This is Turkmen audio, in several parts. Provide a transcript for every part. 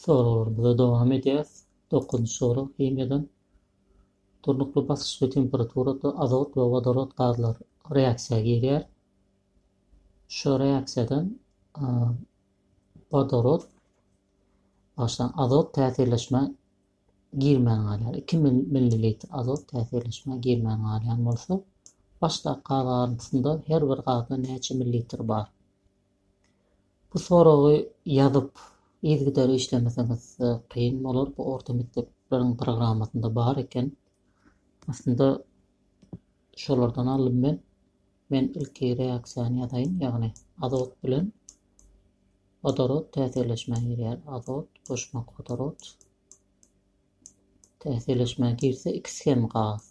Soraglarymyza dowam edýäris. Dokuzynjy sorag himiýadan. Durnukly basyş we temperaturada azot we wodorod gazlary reaksiýa girýär. Şu reaksiýadan wodorod başdan azot täsirleşmä girmän galýar. 2 millilitr azot täsirleşmä girmän galýan bolsa, başdaky gaz garyndysynda her bir gazda näçe millilitr bar? Bu soragy ýazyp, yzgydar işlemeseňiz kyn bolar. Bu orta mekdepleriň programmasynda bar eken. Aslynda şolardan aldym men. Men ilki reaksiýany ýazaýyn, ýagny azot bilen wodorod täsirleşmä girýär. Azot goşmak wodorod täsirleşmä girse ikisi hem gaz.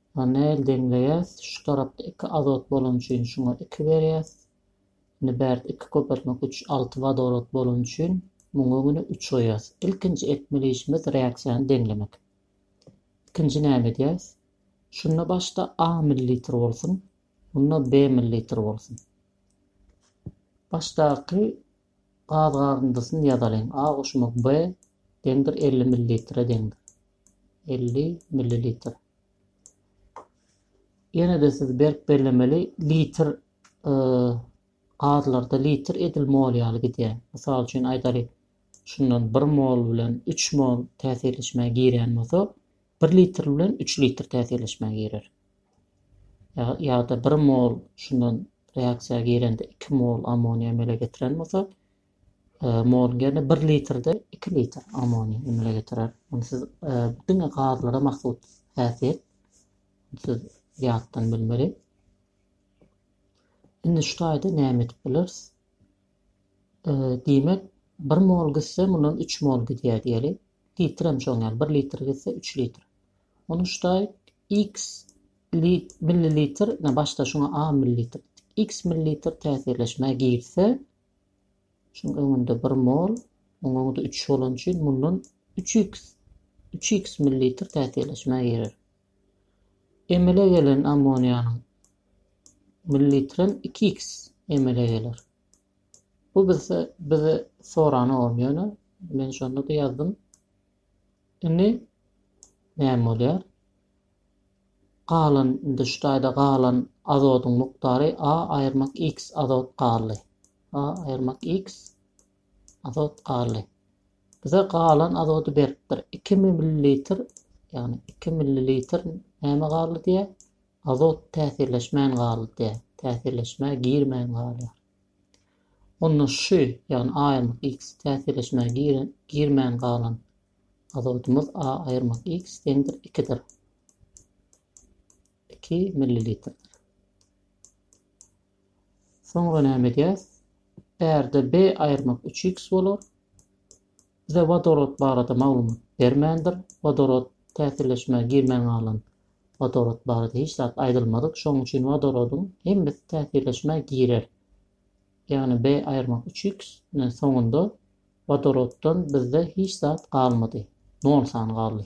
Ony nähili deňleýäs? Şu tarapda iki azot bolany üçin şuňa iki berýäs. Indi bärde iki köpeltmek üç, alty wodorod bolany üçin muňa öňüne üç goýýas. Ilkinji etmeli işimiz reaksiýany deňlemek. Ikinji näme edýäs? Şunda başda A millilitr bolsun, onda B millilitr bolsun. Başdaky Gaz garyndysyny ýazalyň. A goşuma B deňdir elli millilitre deňdir. Elli millilitr. Ýene-de siz berk bellemeli litr e, gazlarda litr edil mol ýaly gidýär. Mysal üçin aýdalyk, şundan 1 mol bilen 3 mol täsirleşmä girýän bolsa, 1 litr bilen 3 litr täsirleşmä girer. ýa-da bir mol şundan reaksiýa girende iki mol ammoniý emele getiren bolsa, e, moluň ýerine bir litrde iki litr ammoniý emele getirer. Ony siz e, diňe gazlara mahsus häsiýet. Siz ýatdan bilmeli. Indi şu taýda näme edip bileris? E, diýmek, 1 mol gitse, mundan 3 mol gidýär diýeli. Litr hem şoň ýaly, 1 litr gitse 3 litr. Ony şu taý X millilitr, ine başda şuňa A millilitr diýdik. X millilitr täsirleşmä girse, şuň öňünde bir mol, oň öňüde üç bolany üçin mundan üç x üç x millilitr täsirleşmä girer. Emele gelen ammoniýanyň millilitrem iki x emele geler. Bu bize bize sorany ogam ýöne men şonda-da ýazdym. Indi näme bolýar? Galan, indi şu taýda galan azodyň mukdary A aýyrmak X azot galdy. A aýyrmak X azot galdy. Bize galan azody beripdir. 2 millilitr, ýagny 2 millilitr näme galdy diýýär? Azot täsirleşmän galdy diýýär. Täsirleşmä girmän galýar. Onda şy, ýagny aýyrmak x, täsirleşmäge girmän galan azodymyz a aýyrmak x deňdir ikidir. Iki millilitrdir. Soňra näme edýäs? Bärde b aýyrmak üç x bolar. Bize wodorod barada maglumat bermändir. Wodorod täsirleşmä girmän galan wodorod barada hiç zat aýdylmadyk. Şonuň üçin wodorodyň hemmesi täsirleşmä girer. Ýagny B aýyrmak üç x nen soňunda wodoroddan bizde hiç zat galmady. Nol sany galdy.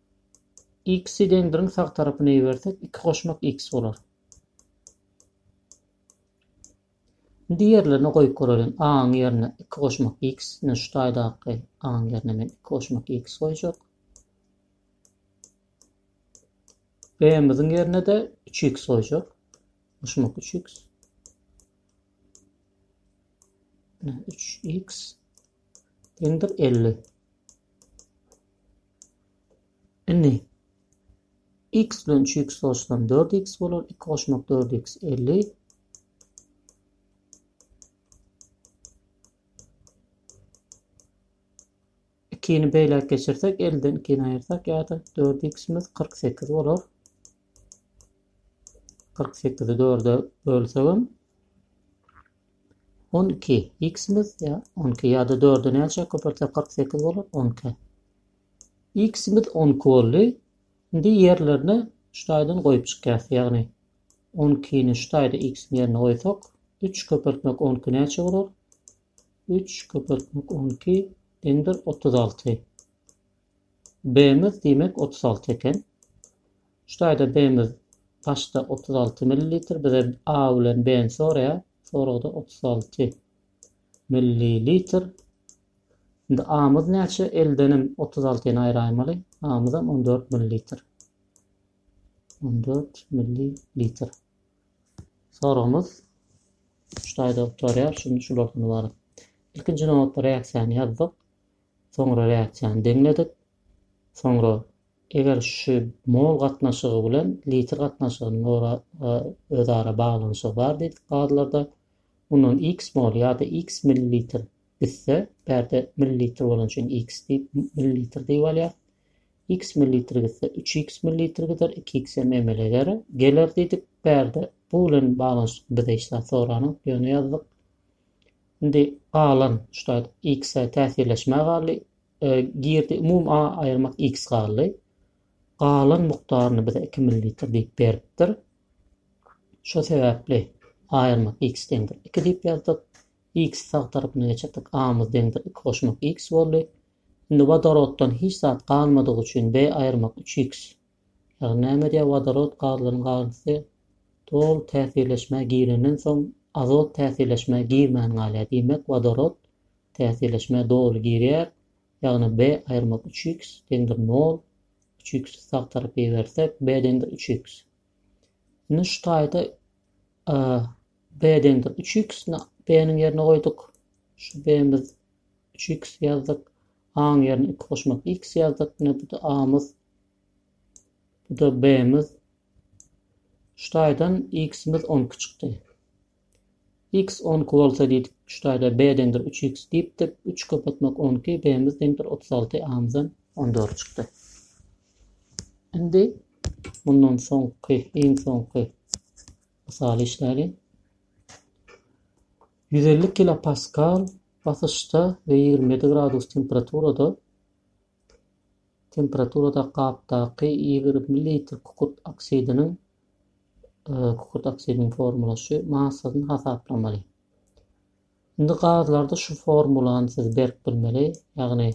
X-i deň biriň sag tarapyna ibersek, iki goşmak X bolar. Indi ýerlerine goýup göreliň. A-nyň ýerine iki goşmak X, ine şu taýdaky A-nyň ýerine men iki goşmak X goýjak. B-miziň ýerine-de 3X goýjak. Goşmak 3X. 3X deňdir 50. Indi x bilen üç x goşsam dört x bolar, iki goşmak dört x elli. Ikini beýläk geçirsek, elden ikini aýyrsak ýa-da dört x-imiz kyrk sekiz bolar. Kyrk sekizi dörde bölsegem On iki. X-imiz ýa on iki ýa-da dörde näçe köpeltsek kyrk sekiz bolar? On iki. X-imiz on iki boldy. Indi ýerlerine şu taýdan goýup çykýas. Ýagny on ikini şu taýda X-iň ýerine goýsak, üç köpeltmek on iki näçe bolar? Üç köpeltmek on iki deňdir otuz alty. B-miz diýmek otuz alty eken. Şu taýda B-miz paçda otuz alty millilitr, bize A bilen B-ni soraýar. Soragda otuz alty millilitr. Indi A-myz näçe? Eldenem otuz altyny aýraýmaly. A-myzam on dört millilitr. On dört millilitr. Soragymyz şu taýda gutarýar. Şulardan ybarat. Ilkinji nobatda reaksiýany ýazdyk. Soňra reaksiýany deňledik. Soňra eger şu mol gatnaşygy bilen litr gatnaşygynyň ora özara baglanyşygy bar diýdik gazlarda. Mundan x mol ýa-da x millilitr gitse, bärde millilitr bolany üçin x diýip, millilitr diýip alýar. X millilitr gitse, üç x millilitr gider, iki x hem emele gerer, geler diýdik. Bärde bu bilen baglanyşykly bize hiç zat soranok, ýöne ýazdyk. Indi galan ştat X-e täsirleşmä galdy. Girdi umum A aýyrmak X galdy. Galan mukdaryny bize iki millilitr diýip beripdir. Şo sebäpli aýyrmak X deňdir iki diýip ýazdyk. X sag tarapyna geçirdik. A-myz deňdir iki goşmak X boldy. Indi wodoroddan hiç zat galmadygy üçin B aýyrmak üç X Ýagny näme diýýär wodorod gazlaryň garyndysy doly täsirleşmä girenden soň azot täsirleşmä girmän galýar diýmek wodorod täsirleşmä doly girýär ýagny B aýyrmak üç x deňdir nol üç x i sag tarapa ibersek B deňdir üç x indi şu taýda e, B deňdir üç x B niň ýerine goýduk şu B miz üç x ýazdyk A-nyň ýerine iki goşmak X ýazdyk. Ine bu-da A-myz. Bu-da B-miz. Şu taýdan X-miz on iki çykdy. X on iki bolsa diýdik, şu taýda B deňdir üç X diýipdik. Üç köpetmek on iki, B-miz deňdir otuz alty, A-myzam on dört çykdy. Indi mundan soňky, iň soňky mysaly işläliň. Ýüz elli kilopaskal basyşda we ýigrimi ýedi gradus temperaturada temperaturada gapdaky ýigrimi litr kükürt oksidiniň kükürt oksidiniň formulaşy massasyny hasaplamaly. Indi gazlarda şu formulany siz berip bilmeli, ýagny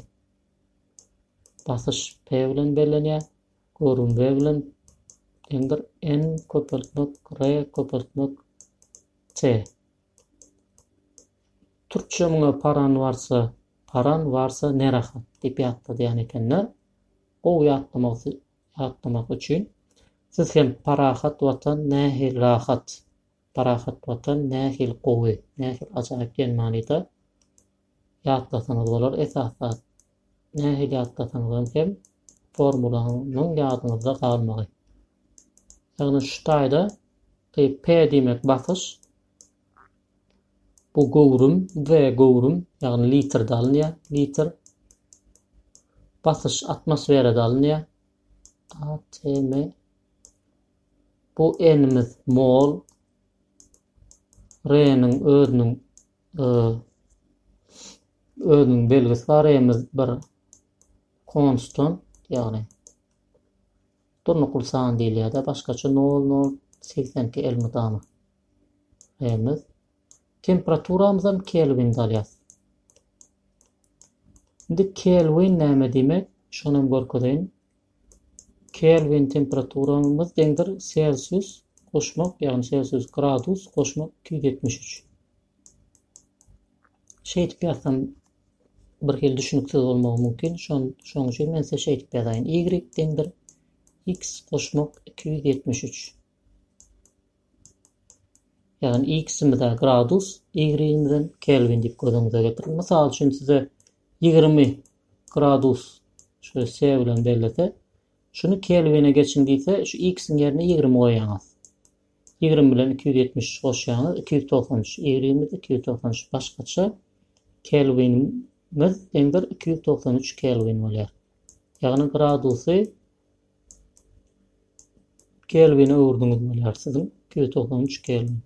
basyş P bilen bellenýär, görüm V bilen deňdir N köpeltmek R köpeltmek T. Türkçe muňa paran barsa, paran barsa ne rahat diýip ýatladýan ekenler. Gowy ýatlamak ýatlamak üçin siz hem parahat watan nähili rahat, parahat watan nähili gowy, nähili ajaýyp diýen manyda ýatlasaňyz bolar esas zat. Nähili ýatlasaňyzam hem formulanyň ýadyňyzda galmagy. Ýagny şu taýda e, P diýmek basyş, bu göwrüm, V göwrüm, ýagny litrde alynýar, litr. Basyş atmosferada alynýar. ATM Bu enimiz mol. Reniň özüniň özüniň belgisi bar emiz bir konstan ýagny durnukly san diýilýär-de başgaça 0082 elmydama emiz temperaturamyzam kelwinde alýas indi kelwin näme diýmek şonam görkezeýin Kelwin temperaturamyz deňdir selsius goşmak ýagny selsius gradus goşmak iki ýüz ýetmiş üç. Şeýdip ýazsam bir hili düşüniksiz bolmagy mümkin. Şon şoň üçin men size şeýdip ýazaýyn. Y deňdir x goşmak iki ýüz ýetmiş üç. Ýagny x-imize gradus, y-imizden kelwin diýip gözüňize getiriň. Mysal üçin size Ýigrimi gradus şu S bilen bellese, şuny kelwine geçiň diýse, şu X-iň ýerine ýigrimi goýýaňyz. Ýigrimi bilen iki ýüz ýetmiş üç goşýaňyz, iki ýüz togsan üç. Y-imiz iki ýüz togsan üç başgaça kelwinimiz deňdir iki ýüz togsan üç kelwin bolýar. Ýagny gradusy kelwine öwürdiňiz bolýar siziň iki ýüz togsan üç kelwin.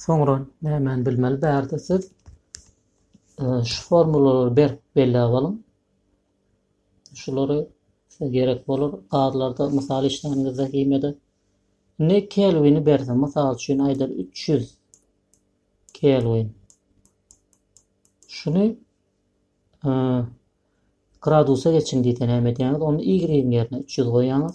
Soňra nämäni bilmeli bärde siz şu formulalary berip belläp alyň. Şulary size gerek bolar. Gazlarda mysal işlänimizde himede ne kelwini berse, mysal üçin aýdyr 300 kelwin. Şuny e, gradusa geçin diýse näme edýäňiz? Onu y ýerine 300 goýýaňyz.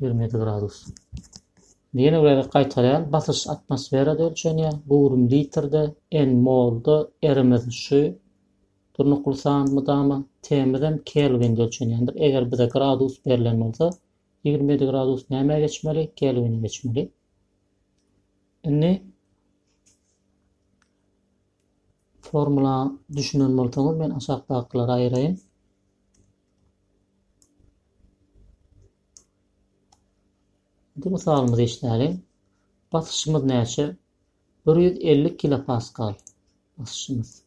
Ýigrimi ýedi gradus. Ýene bir gezek gaýtarýan, basyş atmosferada ölçenýär, göwrüm litrde, N molda, R-imiz şu durnukly san mydama, T-imizem kelwinde ölçenýändir. Eger bize gradus berlen bolsa, ýigrimi ýedi gradus nämä geçmeli? Kelwine geçmeli. Indi formula düşünen bolsaňyz men aşakdakylary aýyraýyn. Indi mysalymyzy eşidäliň. Basyşymyz näçe? 150 kilopaskal basyşymyz.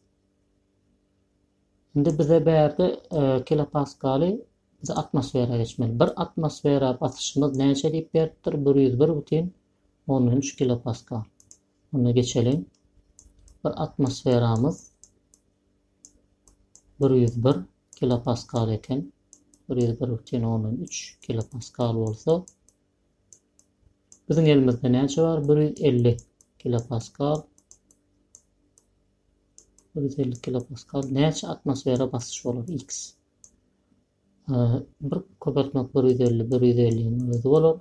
Indi bize bärde e, kilopaskaly bize atmosfera geçmeli. Bir atmosfera basyşymyz näçe diýip beripdir? 101,13 kilopaskal. Onda geçelim. Bir atmosferamyz bir ýüz bir kilopaskal eken, bir ýüz bir bütin ondan üç kilopaskal bolsa, biziň elimizde näçe bar? Bir ýüz elli kilopaskal. Bir ýüz elli kilopaskal näçe atmosfera basyş bolar? X. Bir köpeltmek bir ýüz elli, bir ýüz elliň özi bolar.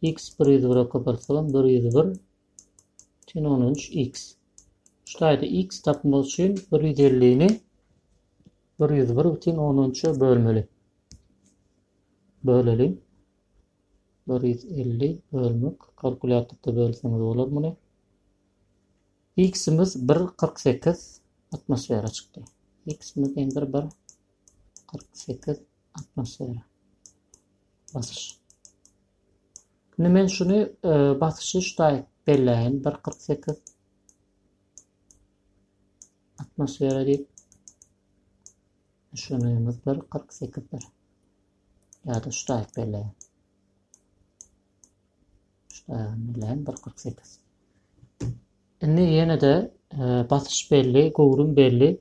X bir ýüz bire köpeltsegem bir ýüz bir. Üçin on üç X. Şu taýda X tapmak üçin bir ýüz ellini bir ýüz bir bütin on üçe bölmeli. Böleli. Bir ýüz elli bölmek. Kalkulýatorda bölseňiz bolar muny. X-imiz bir kyrk sekiz atmosfera çykdy. X-imiz bir bir kyrk sekiz atmosfera basyş. Indi men şuny e, basyşy şutaýyk belläýin. Bir kyrk sekiz atmosfera diýip şunymyz bir kyrk sekizdir. Ýa-da şutaýyk belläýin. Şutaýyk belläýin bir kyrk sekiz. Indi ýene-de e, basyş belli, göwrüm belli.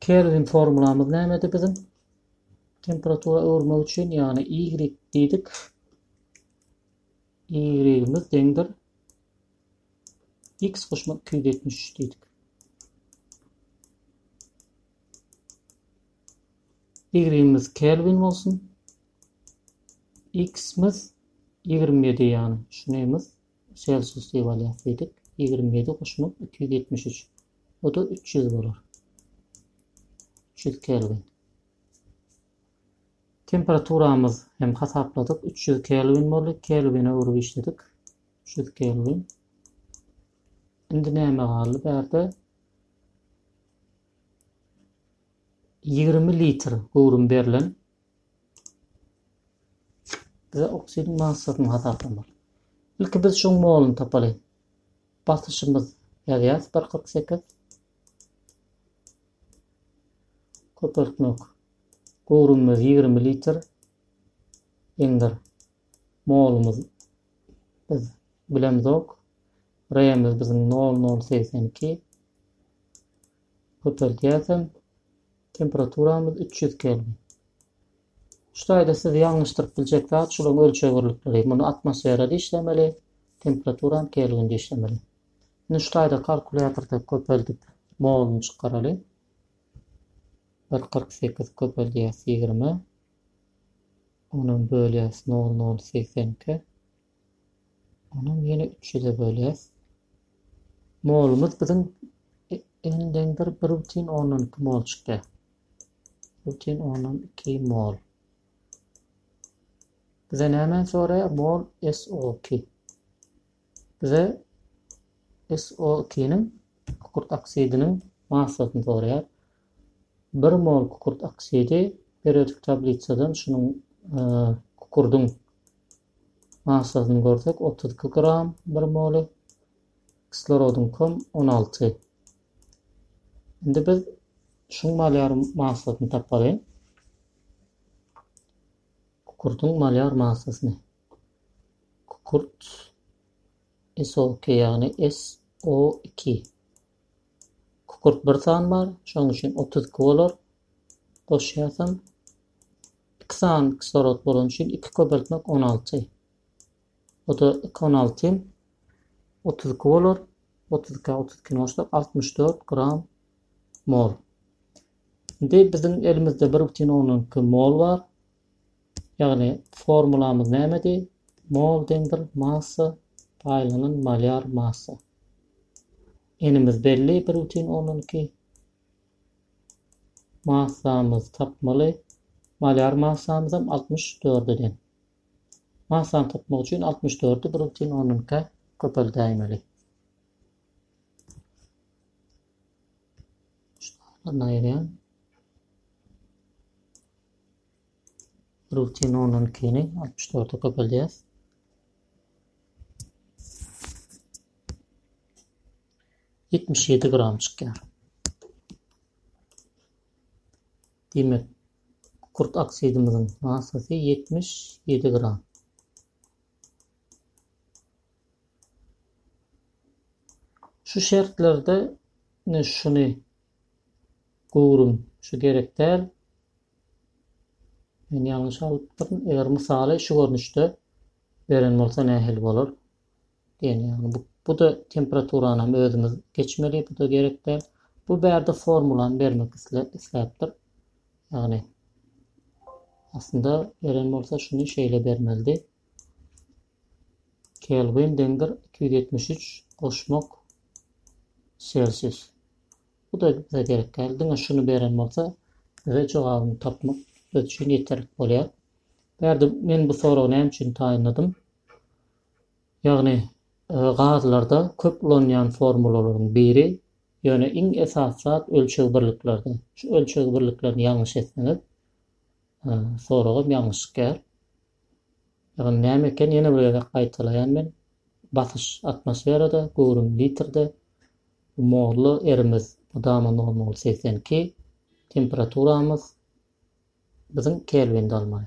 Kelwin formulamyz nämedi biziň? Temperatura öwürmek üçin, ýagny y diýdik. Y-imiz deňdir. X goşmak 273 diýdik. Y-imiz Kelvin bolsun. X-imiz 27 ýagny şunymiz Celsius diýip alýas diýdik. 27 goşmak 273. Bu-da üç ýüz bolar. Üç ýüz kelwin. Temperaturamyz hem hasapladyk. Üç ýüz kelwin boldy. Kelwine öwrüp işledik. Üç ýüz kelwin. Indi näme galdy bärde? Ýigrimi litr göwrüm berlen. Bize oksidiň massasyny hasaplamak. Ilki biz şuň moluny tapalyň. Basyşymyz ýazýas bir kyrk sekiz köpeltmek göwrümimiz ýigrimi litr indir molumyz biz bilemzok remiz biziň nol nol segsen iki köpeltýäsem Temperaturamyz üç ýüz kelwin. Şu taýda sizi ýalňyşdyryp biljek zat şularyň ölçeg birlikleri. Muny atmosferada işlemeli, temperaturam kelwinde işlemeli. Indi şu taýda kalkulýatorda köpeldip moluny çykaraly. Bir kyrk sekiz köpeldýäs ýigrime. Onam bölýäs nol nol segsen iki. Onam ýene üç ýüze bölýäs. Molumyz biziň elden bir bir butin ondan iki mol çykýar. Butin ondan iki mol. Bize näme soraýar? Mol SO2. Bize SO2-niň kükürt oksidiniň massasyny soraýar. 1 mol kükürt oksidi periodik tablisadan şunuň e, kükürdüň Massasyny görsek, otuz iki gram bir moly, kislorodyňkam on alty. Indi biz şuň malýar massasyny tapaly. Kukurtyň malýar massasyny. Kukurt SO2 ýagny SO2. Kukurt bir san bar, şoň üçin 32 bolar. Goşýasam iki sany kislorod bolany üçin iki köpeltmek on alty. O-da iki on alty otuz iki bolar. Otuz iki otuz ikini goşsak altmyş dört gram mol. Indi biziň elimizde bir bütin on iki mol bar. Ýagny formulamyz nämedi? Mol deňdir massa paýlanan malýar massa. Enimiz belli bir bütin on iki. Massamyzy tapmaly. Malýar massamyzam altmyş dört eden. Massany tapmak üçin altmyş dördi bir bütin ondan ikä köpeldäýmeli. Şundan aýyrýan. Bir bütin ondan ikini altmyş dörde köpeldýäs. ýetmiş ýedi gram çykýar. Diýmek, kükürt oksidimiziň massasy ýetmiş ýedi gram. Şu şertlerde ne şuny göwrüm şu gerek däl. Men ýalňyş alypdyryn. Eger mysaly şu görnüşde beren bolsa nähili bolar? Diýen ýaly. Bu, bu-da temperaturanym özümiz geçmeli, bu-da gerek däl. Bu bärde formulany bermek isle, isläpdir. Ýagny, aslynda beren bolsa şuny şeýle bermelidi. Kelvin deňdir 273 goşmak Selsius. Bu da bize gerek däl. Diňe şuny beren bolsa, bize jogabyny tapmak biz üçin ýeterlik bolýar. Bärde men bu soragy näme üçin taýynladym? Ýagny, gazlarda köp ulanýan formulalaryň biri, ýöne iň esasy zat ölçeg birliklerde. Şu ölçeg birliklerini ýalňyş etseňiz, soragam ýalňyş çykýar. Ýagny näme eken, ýene bir gezek gaýtalaýan men, basyş atmosferada, göwrüm litrde, bu molly erimiz mydama normaly segsen iki, temperaturamyz biziň kelwinde almaly.